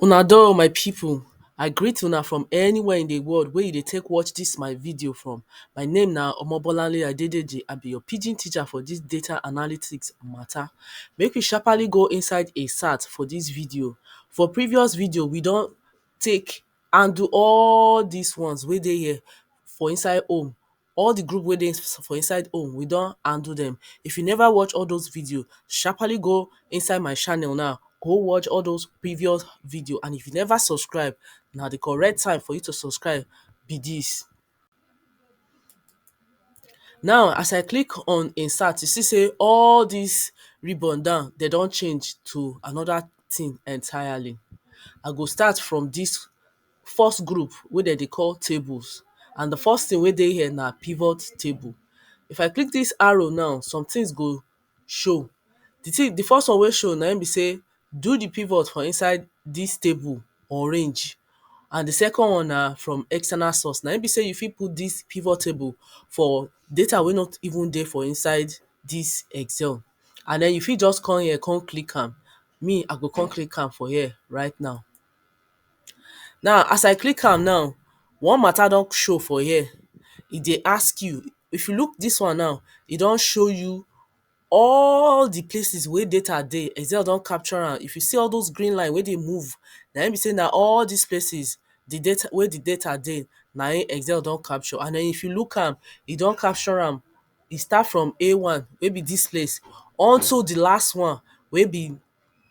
Una do oh my people, I greet una from anywhere in the world wey you dey take watch this my video from. My name na Omobolanle Adedeji, I be your pidgin teacher for this data analytics matter. Make we sharpaly go inside a sat for this video. For previous video, we don take handle all these ones wey dey here for inside home All the group wey dey for inside home, we don handle dem. If you never watch all those videos, sharpaly go inside my channel now, go watch all those previous videos. And if you never subscribe, na the correct time for you to subscribe be dis. Now, as I click on insert, you see sey all dis ribbon down, de don change to another thing entirely. I go start from dis first group wey dem dey call tables and di first thing wey dey here na pivot table if I click dis arrow now somethings go show di thing di first one wey show na im be sey do di pivot for inside dis table or range and di second one na from external source na im be sey you fit put dis pivot table for data wey no even dey for inside dis excel and den you fit just come here come click am me I go come click am for here right now Now as I click am now, one matter don show for here. E dey ask you, if you look dis one now, e don show you all the places wey data dey. Excel don capture am. If you see all dos green line wey dey move, na im be sey na all dis places the data wey the data dey na im Excel don capture. And den if you look am, e don capture am. E start from A one wey be dis place unto the last one wey be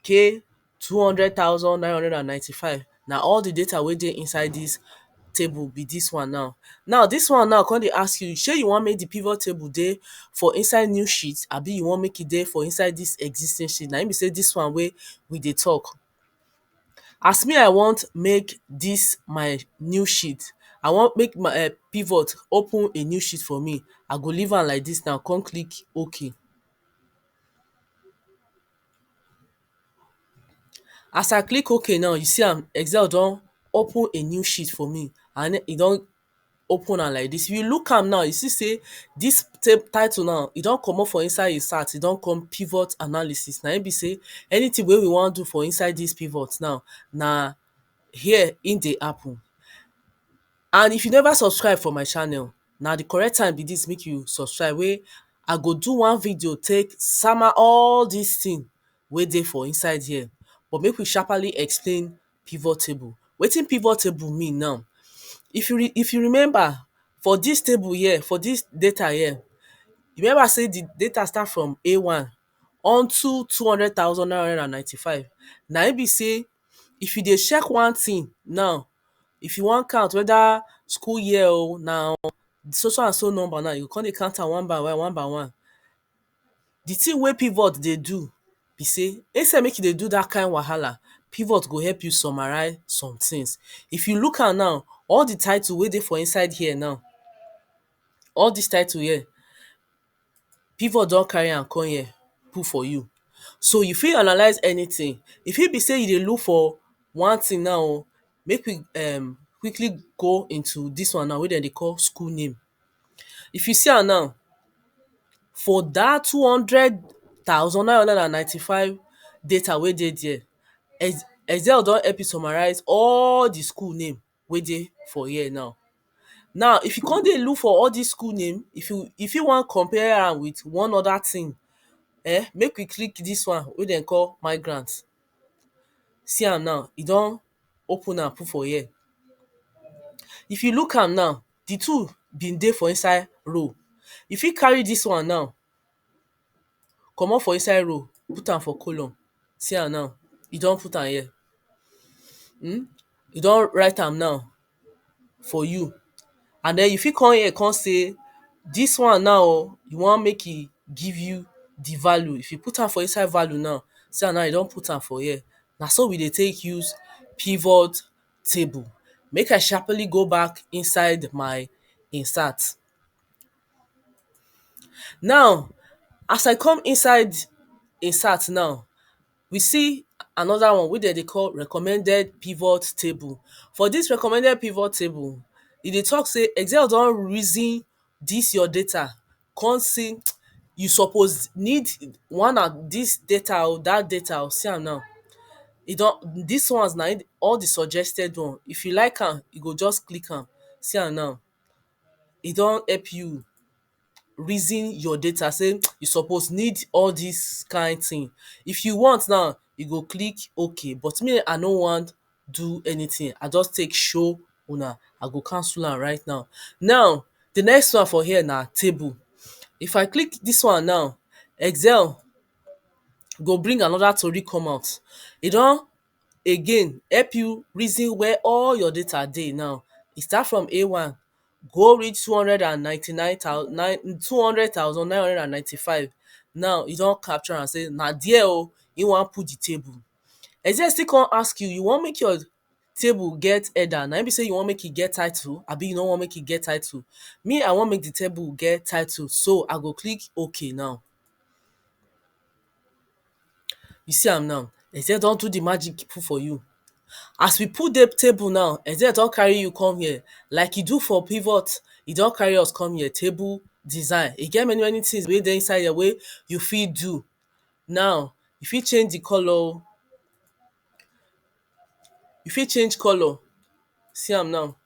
K two hundred thousand nine hundred and ninety five na all the data wey dey inside this table be this one now now this one now come dey ask you shey you want make the pivot table dey for inside new sheet abi you want make e dey for inside this existing sheet na him be sey this one wey we dey talk as me I want make this my new sheet I want make my um pivot open a new sheet for me I go leave am like this now come click ok As I click ok now you see am Excel don open a new sheet for me and e don open am like dis. If you look am now you see sey dis title now e don comot for inside im start e don come pivot analysis. Na im be sey anything wey we wan do for inside dis pivot now na here im dey happen. And if you never subscribe for my channel Na the correct time be this make you subscribe wey I go do one video take sama all this thing wey dey for inside here but make we sharperly explain pivot table. Wetin pivot table mean now? If you if you remember for this table here for this data here you remember say the data start from A one unto two hundred thousand nine hundred and ninety five na im be say If you dey check one thing now, if you wan count whether school year oh, na so so and so number now, you go come dey count am one by one, one by one. The thing wey pivot dey do be sey, instead make e dey do dat kind wahala, pivot go help you summarize some things. If you look am now, all the title wey dey for inside here now, all dis title here, Pivot don carry am come here put for you. So you fit analyse anything. E fit be sey you dey look for one thing now o. Make we um quickly go into dis one now wey dem dey call school name. If you see am now, for dat two hundred thousand nine hundred and ninety-five data wey dey dere, Excel don help you summarise all the school name wey dey for here now. Now if you come dey look for all dis school name, if you you fit wan compare am with one other thing um make we click dis one wey dem call migrant. See am now, e don open am put for here. If you look am now, the two been dey for inside row. You fit carry dis one now comot for inside row put am for column see am now e don put am here um e don write am now for you and den you fit come here come say dis one now o you want make e give you di value if you put am for inside value now see am now e don put am for here na so we dey take use pivot table make I sharply go back inside my insert Now as I come inside im site now, we see another one wey dem dey call recommended pivot table. For dis recommended pivot table, e dey talk say Excel don reason dis your data come see you suppose need one and dis data oh, dat data oh, see am now. E don dis ones na im all the suggested one. If you like am, you go just click am. See am now. e don help you reason your data sey you suppose need all dis kain thing. If you want now, you go click okay but me I no wan do anything, I just take show una. I go cancel am right now. Now de next one for here na table. If I click dis one now, Excel go bring another tori come out. E don again help you reason where all your data dey now. E start from a one go reach two hundred and ninety nine thou nine two hundred thousand nine hundred and ninety five now e don capture am sey na there oh e wan put the table e say e still come ask you you wan make your table get header na im be sey you wan make e get title abi you no wan make e get title me I wan make the table get title so I go click ok now You see am now, dem sey don do the magic put for you. As we put dey table now, dem sey dem don carry you come here. Like e do for pivot, e don carry us come here. Table design. E get many many things wey dey inside here wey you fit do. Now, you fit change the colour oh. You fit change colour. See am now.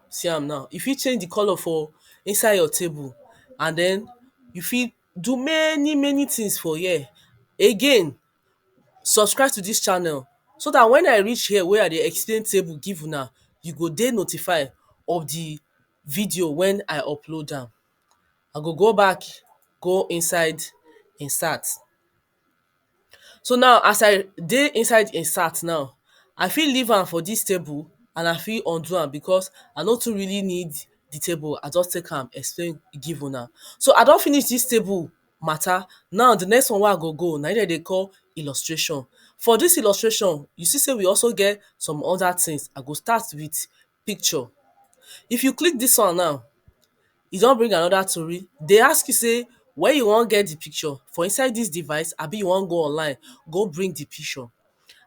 See am now, you fit change di colour for inside your table and den you fit do many many things for here. Again, subscribe to dis channel so dat wen I reach here wey I dey explain table give una, you go dey notified of di video wen I upload am. I go go back go inside insert. So now as I dey inside im sat now, I fit leave am for dis table and I fit undo am because I no too really need the table, I just take am explain give una. So I don finish dis table matter, now the next one wey I go go na im dem dey call illustration. For dis illustration, you see sey we also get some other things. I go start with picture. If you click dis one now, e don bring another tori. E dey ask you sey where you wan get the picture? For inside dis device abi you wan go online go bring the picture?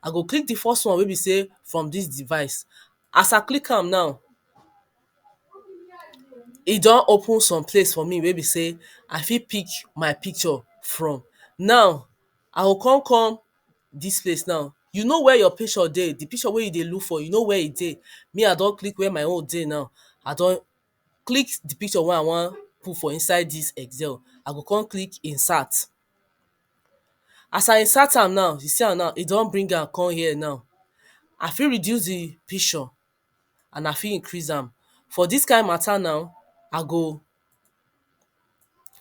I go click the first one wey be sey from dis device. As I click am now, e don open some place for me wey be sey I fit pick my picture from. Now, I go con come dis place now, you know where your picture dey, di picture wey you dey look for you know where e dey, me I don click where my own dey now, I don click di picture wey I wan put for inside dis excel, I go come click insert. As I insert am now, you see am now e don bring am come here now, I fit reduce di picture. and I fit increase am. For dis kind matter now, I go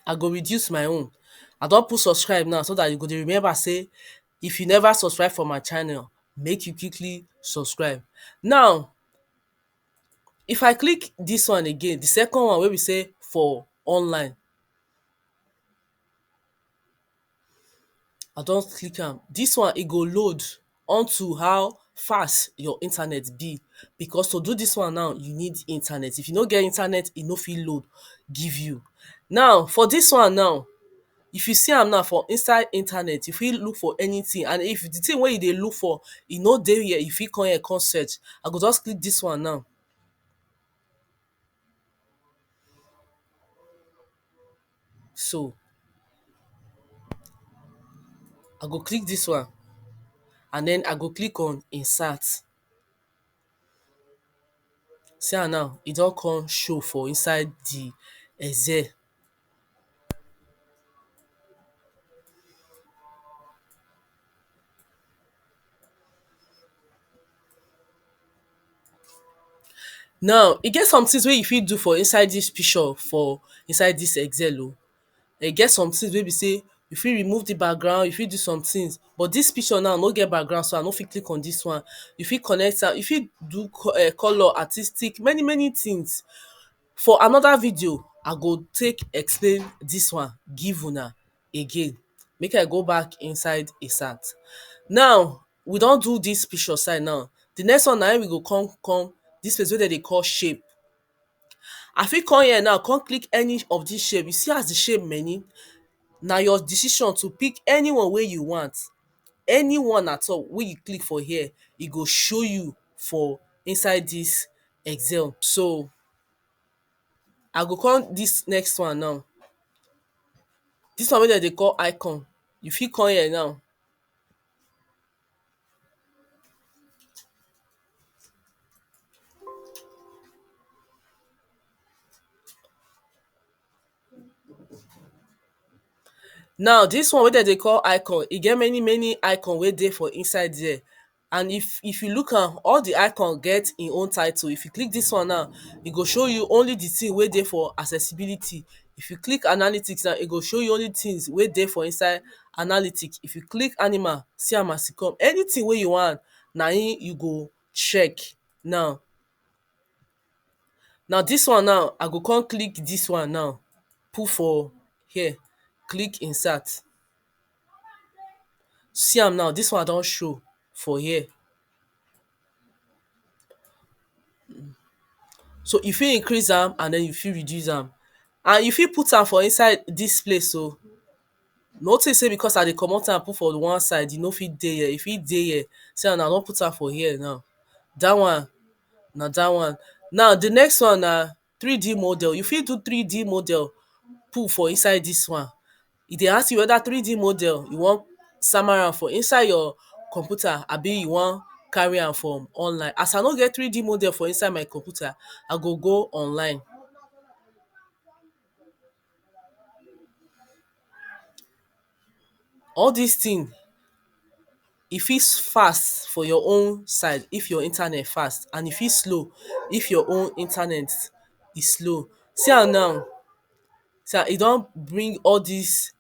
I go reduce my own. I don put subscribe now so dat you go dey remember sey if you never subscribe for my channel, make you quickly subscribe. Now, if I click dis one again, the second one wey be sey for online. I don click am. Dis one, e go load onto how fast your internet be. Becos to do dis one now, you need internet. If you no get internet, e no fit load give you. Now, for dis one now, if you see am now for inside internet, you fit look for anything. And if the thing wey you dey look for, e no dey here, you fit come here con search. I go just click dis one now. so I go click dis one and den I go click on insert see am now e don come show for inside di excel Now e get somethings wey you fit do for inside dis picture for inside dis excel oh. E get somethings wey be sey you fit remove the background, you fit do somethings but dis picture now no get background so I no fit click on dis one. You fit connect am, you fit do um colour, artistic many many things. For another video, I go take explain dis one give huna. again make I go back inside di sat. Now we don do dis picture side now, di next one na im we go come come dis place wey dem dey call shape, I fit come here now come click any of dis shape, you see as di shape many na your decision to pick any one wey you want, any one at all wey you click for here e go show you for inside dis excel so. I go come dis next one now. Dis one wey dem dey call icon, you fit come here now. Now dis one wey dem dey call icon, e get many many icon wey dey for inside there. And if if you look am, all the icon get e own title. If you click dis one now, e go show you only the thing wey dey for accessibility. If you click analytics now, e go show you only things wey dey for inside analytics. If you click animal, see am as e come. Anything wey you want, na im you go check now. Na dis one now, I go con click dis one now, put for here, click insert. See am now, dis one don show for here. So you fit increase am and den you fit reduce am. And you fit put am for inside dis place oh. No think sey because I dey comot am put for the one side, e no fit dey here. E fit dey here. See am now I don put am for here now. Dat one na dat one. Now the next one na 3D model, you fit do 3D model put for inside dis one. E dey ask you whether 3D model you wan sama am for inside your computer abi you wan carry am from online. As I no get 3D model for inside my computer, I go go online. All dis thing e fit fast for your own side if your internet fast and e fit slow if your own internet e slow. See am now see am e don bring all dis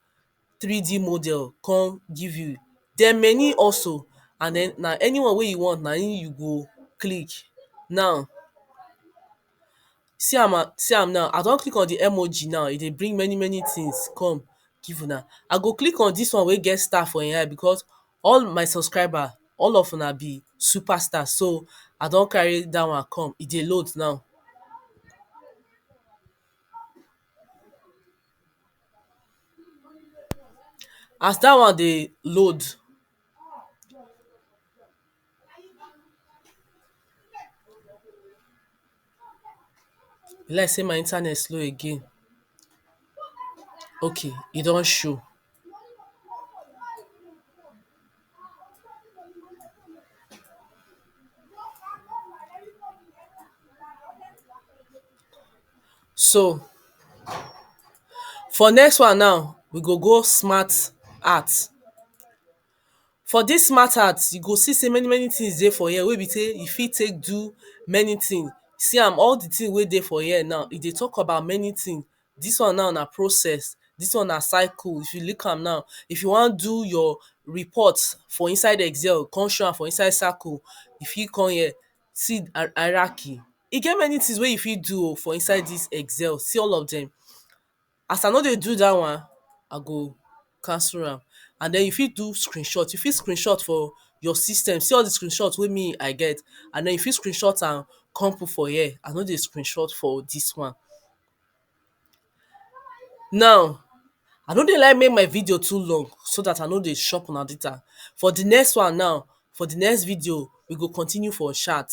3D model come give you. There many also and den na anyone wey you want na im you go click now. See am na, see am now, I don click on di emoji now, e dey bring many many tins come give una. I go click on dis one wey get star for ein eye becos all my subscriber, all of una be super star, so I don carry dat one come, e dey load now. As dat one dey load. E be like sey my internet slow again. Okay, e don show. So, for next one now, we go go smart art. For dis mattered, you go see sey many many things dey for here wey be sey you fit take do many things. See am all the things wey dey for here now, e dey talk about many things. Dis one now na process. Dis one na cycle. If you look am now, if you wan do your report for inside excel, con show am for inside circle, you fit con here see hierarchy. E get many things wey you fit do oh for inside dis excel. See all of dem. As I no dey do dat one, I go cancel am and den you fit do screenshot, you fit screenshot for your system see all de screenshot wey me I get and den you fit screenshot am come put for here, I no dey screenshot for dis one. Now I no dey like make my video too long so dat I no dey chop una data, for de next one now for the next video we go continue for chat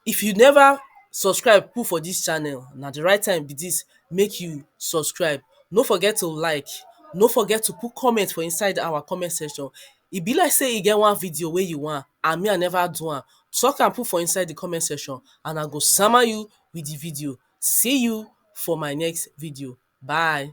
if you never subscribe put for this channel na the right time be this make you subscribe no forget to like no forget to put comment for inside our comment section e be like say e get one video wey you want and me I never do am talk am put for inside the comment section and I go sama you with the video see you for my next video bye